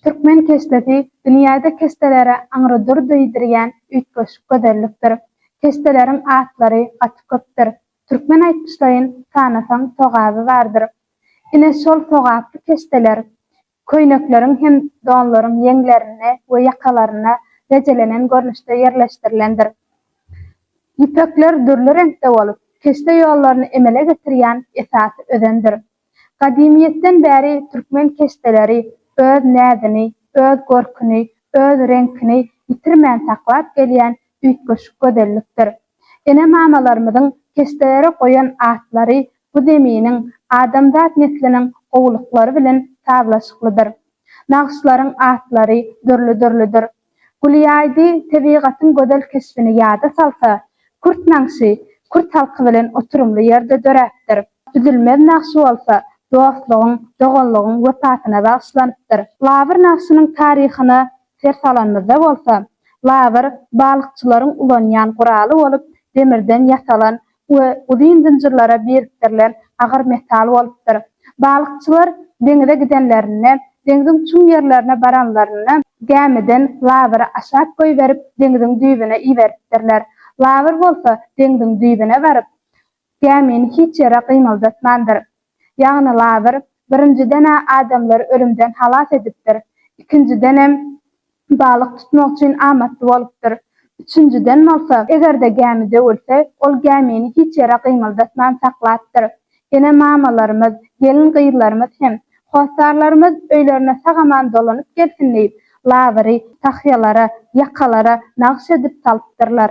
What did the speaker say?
Türkmen keşdesi dünýäde keşdelere aňrydyr diýdirýän üýtgeşik gözellikdir. Keşdeleriň atlary gaty köpdür. Türkmen aýtmyşlaýyn, sanasaň sogaby bardyr. Ine şol sogaply keşdeler köýnekleriň hem donlaryň ýeňlerinde we ýakalarynda rejelenen görnüşde ýerleşdirilendir. Ýüpekler dürli reňkde bolup, keşde ýollaryny emele getirýän esasy özendir. Gadymyýetden bäri türkmen keşdeleri öz näzini, öz görküni, öz reňkini ýitirmän saklap gelýän üýtgeşik gözellikdir. Ene-mamalarymyzyň keşdelere goýan atlary bu zeminiň, adamzat nesliniň gowulyklary bilen sazlaşyklydyr. Nagyşlaryň atlary dürli-dürlüdir. Gulyýaýdy tebigatyň gözel keşbini ýada salsa, kürt nagşy kürt halky bilen oturymly ýerde döräpdir. Üzülmez nagşy bolsa dostlugyň, doganlygyň wepasyna bagyşlanypdyr. Labyr nagşynyň taryhyna ser salanymyzda bolsa, labyr balykçylaryň ulanýan guraly bolup demirden ýasalan we uzyn zynjyrlara birikdirilen agyr metal bolupdyr. Balykçylar deňize gidenlerinde, deňziň çuň ýerlerine baranlarynda, gämiden labyry aşak goýberip, deňziň düýbüne iberipdirler. Labyr bolsa deňziň düýbüne baryp, gämini hiç ýere gymyldatmandyr. Ýagny Lazyr, birinjiden-ä adamlary ölümden halas edipdir, ikinjidenem, balyk tutmak üçin amatly bolupdyr, üçünjiden bolsa, eger-de gämi döwülse, ol gämini hiç ýere gymyldatman saklapdyr. Ene-mamalarymyz, gelin-gyzlarymyz hem, hossarlarymyz öýlerine sag-aman dolanyp gelsin diýip, Lazyry tahýalara, ýakalara nagyş edip salypdyrlar.